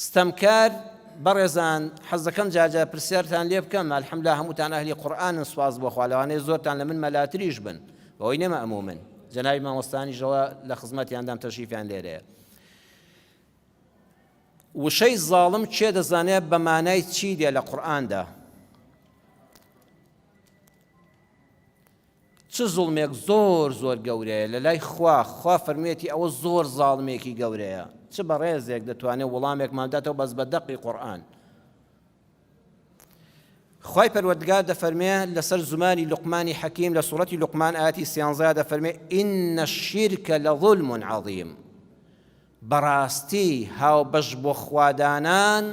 ستەمکار بەڕێزان حەزدەکەم جار جار پرسیارتان لێ بکەم الحمدلله هەمووتان ئەهلی قورئانن سوپاس بۆ خوا لەوانەیە زۆرتان لە من مەلاتریش بن بەوەی نەمە ئەموو من جەنابی مامۆستانیشەوە لە خزمەتیاندام تەشریفیان لێرەیە وشەی زاڵم چێ دەزانێت بە مانای چی دێ لە قورئاندا چ زوڵمێک زۆر زۆر گەورەیە لەلای خوا، خوا فەرموویەتی ئەوە زۆر زاڵمێکی گەورەیە، چ بەڕێزێک دەتوانێت وڵامێکمان بداتەوە بەس بە دەقی قورئان. خوای پەروەردگار دەفەرمێ لەسەر زمانی لقمانی حەکیم لە سوڕەتی لقمان ئاتی سیانزا دەفەرمێ ئینە شیرکە لە ظلم عظیم بەڕاستی هاوبەش بۆ خوا دانان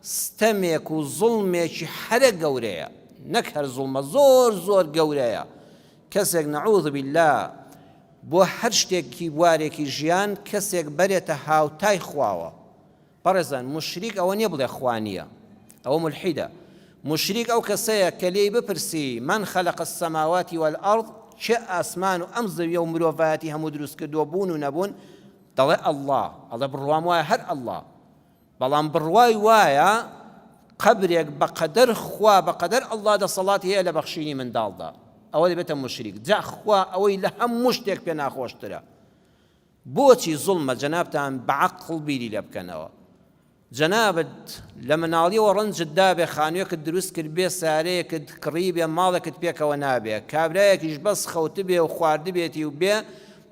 ستەمێک و زوڵمێکی حەرە گەورەیە نەک هەر زوڵمە زۆر زۆر گەورەیە کەسێک نعوذ باللە بۆ هەر شتێکی بوارێکی ژیان کەسێک بەرێتە هاوتای خواوە بەڕێزان مشریک ئەوە نیە بڵێ خوا نیە ئەوە ملحیدە موشریک ئەو کەسەیە کە لێی بپرسی، من خلق السماوات والارض، کێ ئاسمان و ئەم زەویە و مرۆڤایەتی هەموو دروست کردووە بوون و نەبوون؟ دەڵێ اللە، ئەڵێ بڕوام وایە هەر اللە، بەڵام بڕوای وایە قەبرێک بە قەدەر خوا بە قەدەر اللە دەسەڵاتی هەیە لە بەخشینی منداڵدا، ئەوە دەبێتە موشریک، جا خوا ئەوەی لە هەموو شتێک پێ ناخۆشترە بۆچی زوڵمە جەنابتان بە عەقڵ بیری لێ بکەنەوە جەنابت لە مناڵیەوە ڕەنجت دابێ خانوێکت دروست کردبێ سارەیەکت کڕیبێ ماڵێکت پێکەوە نابێ کابرایەکیش بەس خەوتبێ و خواردبێتی و بێ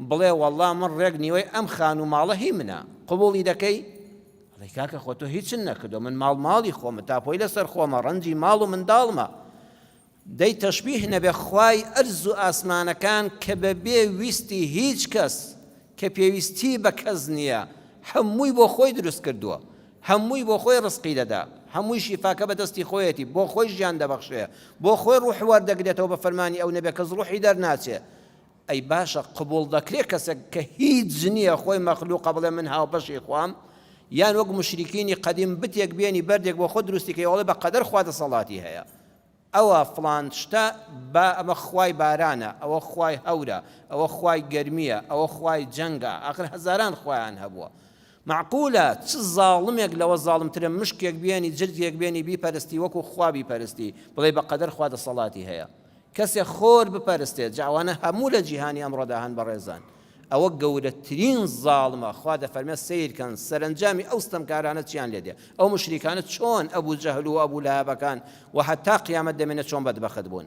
بڵێ وەڵا من ڕێک نیوەی ئەم خانوو ماڵە هی منە قبوڵی دەکەی ئەڵێ کاکە خۆ تۆ هیچن نەکردووە من ماڵ ماڵی خۆمە تاپۆی لەسەر خۆمە ڕەنجی ماڵ و منداڵمە دەی تەشبیه نەبێ خوای ئەرز و ئاسمانەکان کە بە بێ ویستی هیچ کەس کە پێویستی بە کەس نیە هەمووی بۆ خۆی دروست کردووە هەمووی بۆ خۆی ڕزقی دەدا هەمووی شیفاکە بە دەستی خۆیەتی بۆ خۆی ژیان دەبەخشێ بۆ خۆی ڕوح وەردەگرێتەوە بە فەرمانی ئەو نەبێ کەس ڕوحی دەرناچێ ئەی باشە قبوڵ دەکرێ کەسێک کە هیچ نیە خۆی مەخلوقە بڵێ من هاوبەشی خوام یان وەک مشریکینی قەدیم بتێک بێنی بەردێک بۆ خۆ دروستی کەی وەڵێ بە قەدەر خوا دەسەڵاتی هەیە ئەوە فڵان شتە با ئەمە خوای بارانە، ئەوە خوای هەورە، ئەوە خوای گەرمییە، ئەوە خوای جەنگە، ئاخر هەزاران خوایان هەبووە. مەعقولە چ زاڵمێک لەوە زاڵمترە مشکێک بێنی، جرجێک بێنی بیپەرستی وەکو خوا بیپەرستی، بڵێی بە قەدەر خوا دەسەڵاتی هەیە کەسێک خۆر بپەرستێت، جا ئەوانە هەموو لە جیهانی ئەمڕۆدا هەن بەڕێزان. ئەوە گەورەترین زاڵمە خوا دەفەرمێت سەیرکەن سەرەنجامی ئەو ستەمکارانە چیان لێ دێ ئەو موشریکانە چۆن ئەبو جەهل و ئەبو لەهەبەکان و هەتا قیامەت دەمێنێت چۆن بەدبەخت بوون